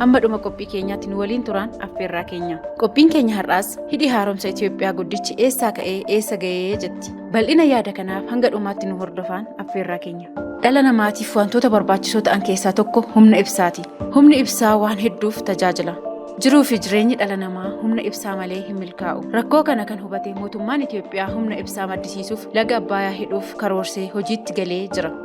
Hamma dhuma qophii keenyaatti nu waliin turaan affeerraa keenya. Qophiin keenya har'aas hidhi haaromsa Itoophiyaa guddichi eessaa ka'ee eessa ga'ee jetti. Bal'ina yaada kanaaf hanga dhumaatti nu hordofaan affeerraa keenya. Dhala namaatiif wantoota barbaachisoo ta'an keessaa tokko humna ibsaati. Humni ibsaa waan hedduuf tajaajila. Jiruu fi jireenyi dhala namaa humna ibsaa malee hin milkaa'u. Rakkoo kana kan hubate mootummaan Itoophiyaa humna ibsaa maddisiisuuf laga Abbaayaa hidhuuf karoorsee hojiitti galee jira.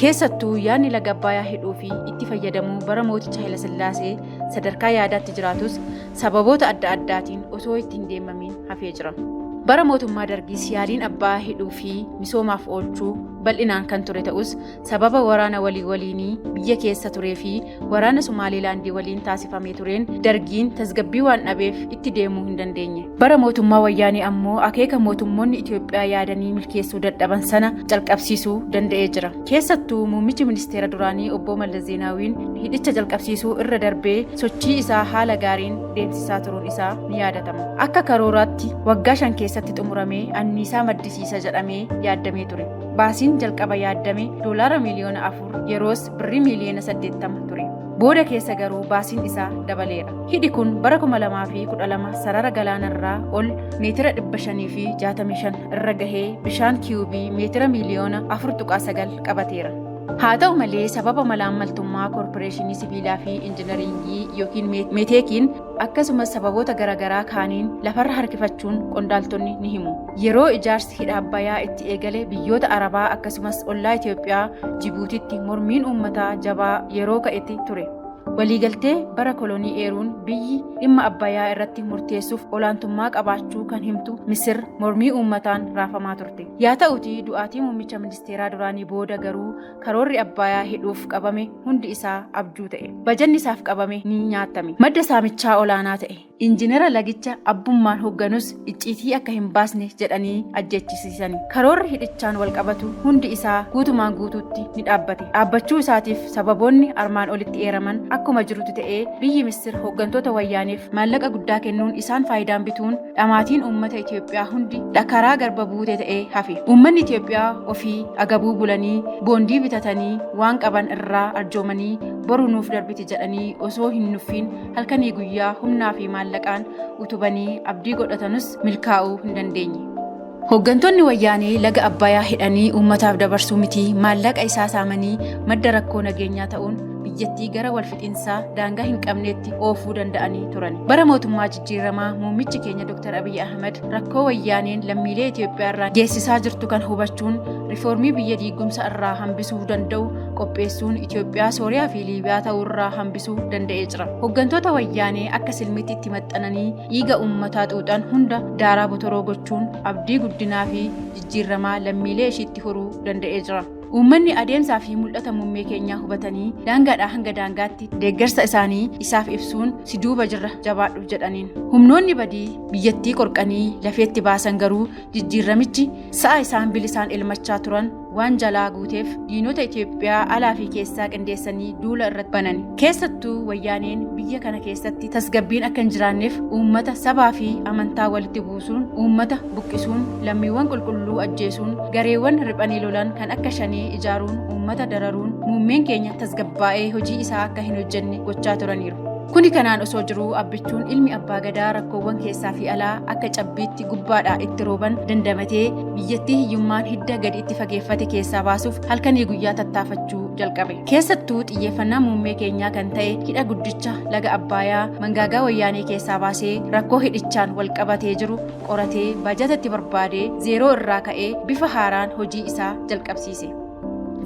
Keessattuu yaadni laga Abbaayaa hidhuu fi itti fayyadamuu bara mooticha Hayilasillaasee sadarkaa yaadaatti jiraatus sababoota adda addaatiin osoo itti hin deemamiin hafee jira. Bara mootummaa Dargiis yaaliin Abbaayaa hidhuu fi misoomaaf oolchuu bal'inaan kan ture ta'us sababa waraana walii waliinii biyya keessa turee fi Waraana Somaaliilaandii waliin taasifamee tureen dargiin tasgabbii waan dhabeef itti deemuu hin dandeenye. Bara mootummaa wayyaanee ammoo akeeka mootummoonni Itoophiyaa yaadanii milkeessuu dadhaban sana calqabsiisuu danda'ee jira. Keessattuu muummichi ministeera duraanii obbo Mallas Zeenaawiin hidhicha calqabsiisuu irra darbee sochii isaa haala gaariin deemsisaa turuun isaa ni yaadatama. Akka karooraatti waggaa shan keessatti xumuramee anniisaa maddisiisa jedhamee yaaddamee ture. Baasiin jalqaba yaaddame doolaara miiliyoona afur yeroos birrii miiliyoona 80 ture. Booda keessa garuu baasiin isaa dabaleera. Hidhi kun bara 2012 sarara galaanarraa ol meetira 565 irra gahee bishaan kiyuubii meetira miiliyoona 4.9 qabateera. Haa ta'u malee sababa malaammaltummaa koorporeeshinii sibiilaa fi injinariingii yookiin meeteekiin akkasumas sababoota garaagaraa kaaniin lafarra harkifachuun qondaaltonni ni himu. Yeroo ijaarsi hidha Abbayaa itti eegale biyyoota Arabaa akkasumas ollaa Itoophiyaa Jibuutitti mormiin uummataa jabaa yeroo ka'etti ture. Waliigaltee bara kolonii eeruun biyyi dhimma Abbayaa irratti murteessuuf olaantummaa qabaachuu kan himtu Misir mormii uummataan raafamaa turte. Yaa ta'utii du'aatii muummicha ministeeraa duraanii booda garuu Karoorri Abbaayaa hidhuuf qabame hundi isaa abjuu ta'e. Bajanni isaaf qabame ni nyaatame. Madda saamichaa olaanaa ta'e. Injinera lagicha abbummaan hoogganus icciitii akka hin baasne jedhanii ajjeechisiisani. Karoorri hidhichaan walqabatu hundi isaa guutumaan guutuutti ni dhaabbate. Dhaabbachuu isaatiif sababoonni armaan olitti eeraman akkuma jirutti ta'ee biyyi Misir hooggantoota Wayyaaneef maallaqa guddaa kennuun isaan faayidaan bituun dhamaatiin uummata Itoophiyaa hundi dhakaraa garba buute ta'ee hafe. Uummanni Itoophiyaa ofii agabuu bulanii boondii bitatanii waan qaban irraa arjoomanii boru nuuf darbiti jedhanii osoo hin nuffiin halkanii guyyaa humnaa fi maallaqaan utubanii abdii godhatanus milkaa'uu hin dandeenye. Hooggantoonni Wayyaanee laga Abbayaa hidhanii uummataaf dabarsuu miti maallaqa isaa saamanii madda rakkoo nageenyaa ta'uun biyyattii gara walfixinsaa daangaa hin qabneetti oofuu danda'anii turan. Bara mootummaa jijjiiramaa muummichi keenya Dr. Abiy Ahmed rakkoo Wayyaaneen lammiilee Itoophiyaa irraa geessisaa jirtu kan hubachuun rifoormii biyya diigumsa irraa hambisuu danda'u qopheessuun Itoophiyaa, Sooriyaa fi Liibiyaa ta'uu irraa hambisuu danda'ee jira. Hooggantoota Wayyaanee akka silmiitti itti maxxananii dhiiga uummataa xuuxan hunda daaraa botoroo gochuun abdii guddinaa fi jijjiirramaa lammiilee ishiitti horuu danda'ee jira. Uummanni adeemsaa fi mul'ata muummee keenyaa hubatanii daangaadhaa hanga daangaatti deeggarsa isaanii isaaf ibsuun si duuba jirra jabaadhu jedhaniin. Humnoonni badii biyyattii qorqanii lafeetti baasan garuu jijjiirramichi sa'a isaan bilisaan elmachaa turan waan jalaa guuteef diinota Itoophiyaa alaa fi keessaa qindeessanii duula irratti banan. Keessattuu wayyaaneen biyya kana keessatti tasgabbiin akka hin jiraanneef uummata sabaa fi amantaa walitti buusuun uummata buqqisuun lammiiwwan qulqulluu ajjeesuun gareewwan riphanii lolan kan akka shanee ijaaruun uummata dararuun muummeen keenya tasgabbaa'ee hojii isaa akka hin hojjenne gochaa turaniiru. Kuni kanaan osoo jiruu abbichuun ilmi abbaa gadaa rakkoowwan keessaa fi alaa akka cabbiitti gubbaadhaa itti rooban dandamatee biyyattii hiyyummaan hidda gadi itti fageeffate keessaa baasuuf halkanii guyyaa tattaafachuu jalqabe. Keessattuu xiyyeeffannaa muummee keenyaa kan ta'e hidha guddicha laga Abbaayaa mangaagaa wayyaanee keessaa baasee rakkoo hidhichaan wal qabatee jiru qoratee baajata itti barbaadee zeeroo irraa ka'ee bifa haaraan hojii isaa jalqabsiise.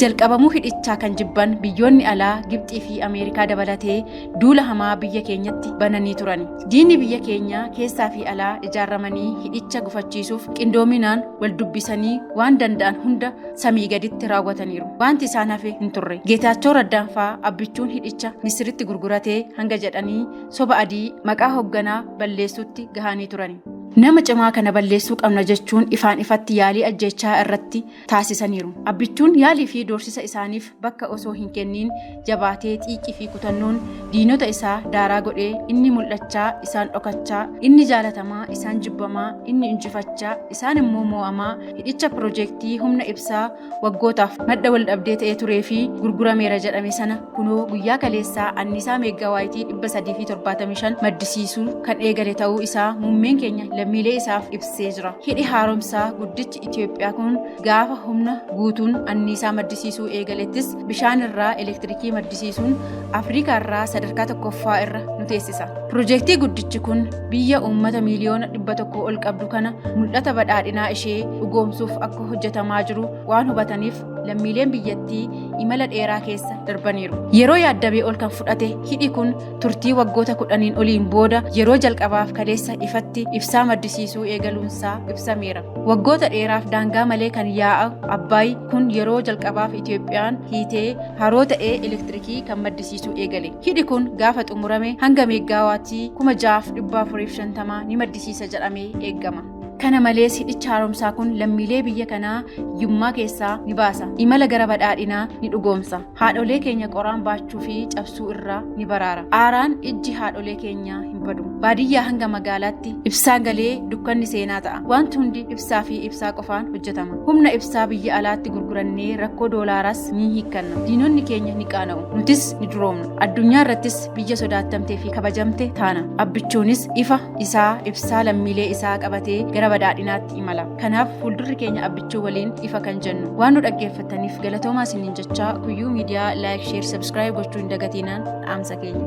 Jalqabamuu hidhichaa kan jibban biyyoonni alaa Gibxii fi Ameerikaa dabalatee duula hamaa biyya keenyatti bananii turan. Diinni biyya keenyaa keessaa fi alaa ijaaramanii hidhicha gufachiisuuf qindoominaan wal dubbisanii waan danda'an hunda samii gaditti raawwataniiru. Waanti isaan hafe hin turre. Geetaachoo Raddaan faa abbichuun hidhicha Misiritti gurguratee hanga jedhanii soba adii maqaa hogganaa balleessuutti gahanii turani. Nama cimaa kana balleessuu qabna jechuun ifaan ifatti yaalii ajjeechaa irratti taasisaniiru. Abbichuun yaalii fi doorsisa isaaniif bakka osoo hin kenniin jabaatee xiiqii fi kutannoon diinota isaa daaraa godhee inni mul'achaa isaan dhokachaa, inni jaalatamaa isaan jibbamaa, inni injifachaa isaan immoo moo'amaa hidhicha pirojeektii humna ibsaa waggootaaf madda waldhabdee ta'ee turee fi gurgurameera jedhame sana kunoo guyyaa kaleessaa anniisaa meeggawaayitii 375 maddisiisuu kan eegale ta'uu isaa muummeen keenya lammiilee isaaf ibsee jira. Hidhi haaromsaa guddichi Piroojektichi Itiyoophiyaa kun gaafa humna guutuun anniisaa maddisiisuu eegalettis bishaan irraa elektirikii maddisiisuun Afrikaa irraa sadarkaa tokkoffaa irra nu teessisa. Piroojektii guddichi kun biyya uummata miiliyoona dhibba tokko ol qabdu kana mul'ata badhaadhinaa ishee dhugoomsuuf akka hojjetamaa jiru waan hubataniif lammiileen biyyattii imala dheeraa keessa darbaniiru. Yeroo yaaddamee ol kan fudhate hidhi kun turtii waggoota kudhaniin oliin booda yeroo jalqabaaf kaleessa ifatti ibsaa maddisiisuu eegaluunsaa ibsameera. Waggoota dheeraaf daangaa malee kan yaa'a Abbaay kun yeroo jalqabaaf Itoophiyaan hiitee haroo ta'ee elektirikii kan maddisiisuu eegale. Hidhi kun gaafa xumurame hanga meeggaawaatii 6450 ni maddisiisa jedhamee eegama. Kana malees hidhicha haaromsaa kun lammiilee biyya kanaa hiyyummaa keessaa ni baasa. Imala gara badhaadhinaa ni dhugoomsa. haadholee keenya qoraan baachuu fi cabsuu irraa ni baraara aaraan ijji haadholee keenyaa hin badu baadiyyaa hanga magaalaatti ibsaan galee dukkanni seenaa ta'a wanti hundi ibsaa fi ibsaa qofaan hojjetama humna ibsaa biyya alaatti gurgurannee rakkoo doolaaraas ni hiikkanna diinonni keenya ni qaana'u nutis ni duroomna addunyaa irrattis biyya sodaattamtee fi kabajamte taana abbichuunis ifa isaa ibsaa lammiilee isaa qabatee gara badhaadhinaatti imala Kanaaf fuuldurri keenya abbichuu waliin ifa kan jennu. Waan nu dhaggeeffattaniif galatoomaa isiniin jechaa kuyyuu miidiyaa laayik, sheer, sabskiraayib gochuu hin dagatinaa dhaamsa keenya.